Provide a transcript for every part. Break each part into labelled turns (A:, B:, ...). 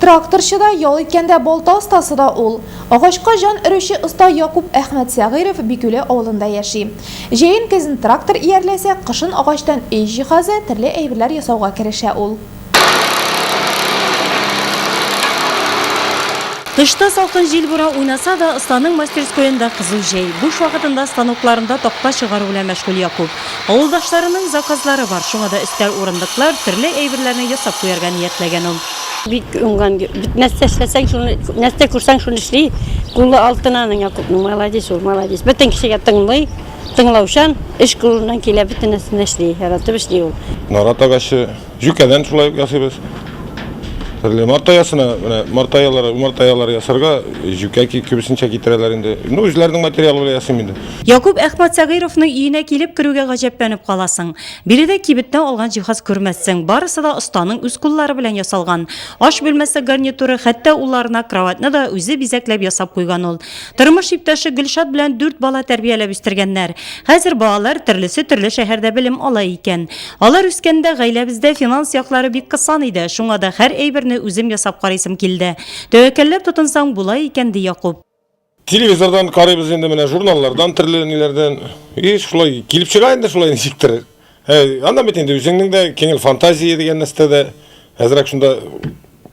A: Тракторчы да, ял иткәндә балта остасы да ул. Агачка җан өрүче оста Якуп Әхмәтсәгыйров Бикүле авылында яши. Җәен-көзен трактор иярләсә, кышын агачтан өй җиһазы, төрле әйберләр ясауга керешә ул.
B: Тышта салкын җил-бура уйнаса да, останың мастерскоенда кызу җәй. Буш вакытында станокларында такта чыгару белән мәшгуль Якуп. Авылдашларының заказлары бар, шуңа да өстәл, урындыклар, төрле әйберләрне ясап куярга ниятләгән ул. Бик уңган,
C: бит нәрсә эшләсәң, шуны, нәрсә күрсәң, шуны эшли. Кулы алтын аның, Якупның, молодец ул, молодец. Бөтен кешегә тыңлый, тыңлаучан, эш кулыннан килә, бөтен нәрсәне эшли, яратып эшли ул. Нарат агачы.
D: Җүкәдән шулай ук ясыйбыз. Төрле мартаясына, менә мартаялар, мартаялар ясарга җүкә күбесенчә китерәләр инде. Ну, үзләренең материалы белән ясыйм инде. Якуб Әхмәт
B: Сәгыйровның өенә килеп керүгә гаҗәпләнеп каласың. Биредә кибеттә алган җиһаз күрмәссең, барысы да останың үз куллары белән ясалган. Аш бүлмәсе гарнитуры, хәтта улларына кроватьны да үзе бизәкләп ясап куйган ул. Тормыш иптәше Гөлшат белән дүрт бала тәрбияләп үстергәннәр. Хәзер балалар төрлесе төрле шәһәрдә белем ала икән. Алар үскәндә гаиләбездә финанс яклары бик кысан иде, шуңа да һәр әйберне үзем ясап карыйсым килде. Тәвәккәлләп тотынсаң, була икән, ди Якуп. Телевизордан
D: карыйбыз инде, менә журналлардан, төрле ниләрдән. И шулай килеп чыга инде шулай ничектер. Ә аннан бит инде үзеңнең дә киңел фантазия дигән нәрсә дә әзрәк шунда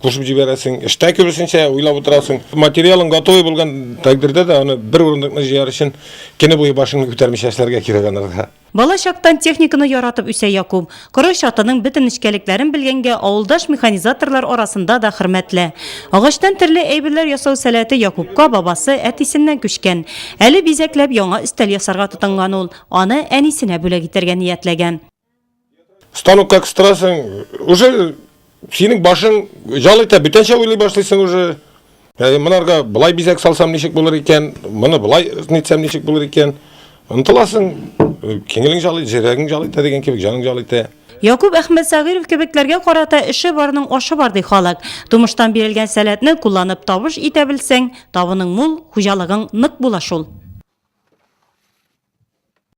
D: кушып җибәрәсең. Эштә күбесенчә уйлап утырасың. Материалың готовый булган тәкъдирдә дә аны бер урындыкны җыяр өчен көне буе башыңны күтәрмичә эшләргә кирәк анарга. Бала чактан
B: техниканы яратып үсә Якуб. Коры чатының бөтен нечкәлекләрен белгәнгә, авылдаш механизаторлар арасында да хөрмәтле. Агачтан төрле әйберләр ясау сәләте Якубка бабасы, әтисеннән күчкән. Әле бизәкләп яңа өстәл ясарга тотынган ул. Аны әнисенә бүләк итәргә ниятләгән.
D: Станокка кыстырасың, уже Синең башың жал итә, бүтәнчә уйлый башлыйсың уже. Ә монарга былай бизәк салсам ничек булыр икән, моны былай нитсәм ничек булыр икән. Ынтыласың, киңелең жал итә, җөрәгең жал итә дигән кебек, җаның жал итә. Якуп Әхмәтсагыйров
B: кебекләргә карата эше барның ашы бар ди халык. Тумыштан бирелгән сәләтне кулланып табыш итә белсәң, табының мул, хуҗалыгың нык була шул.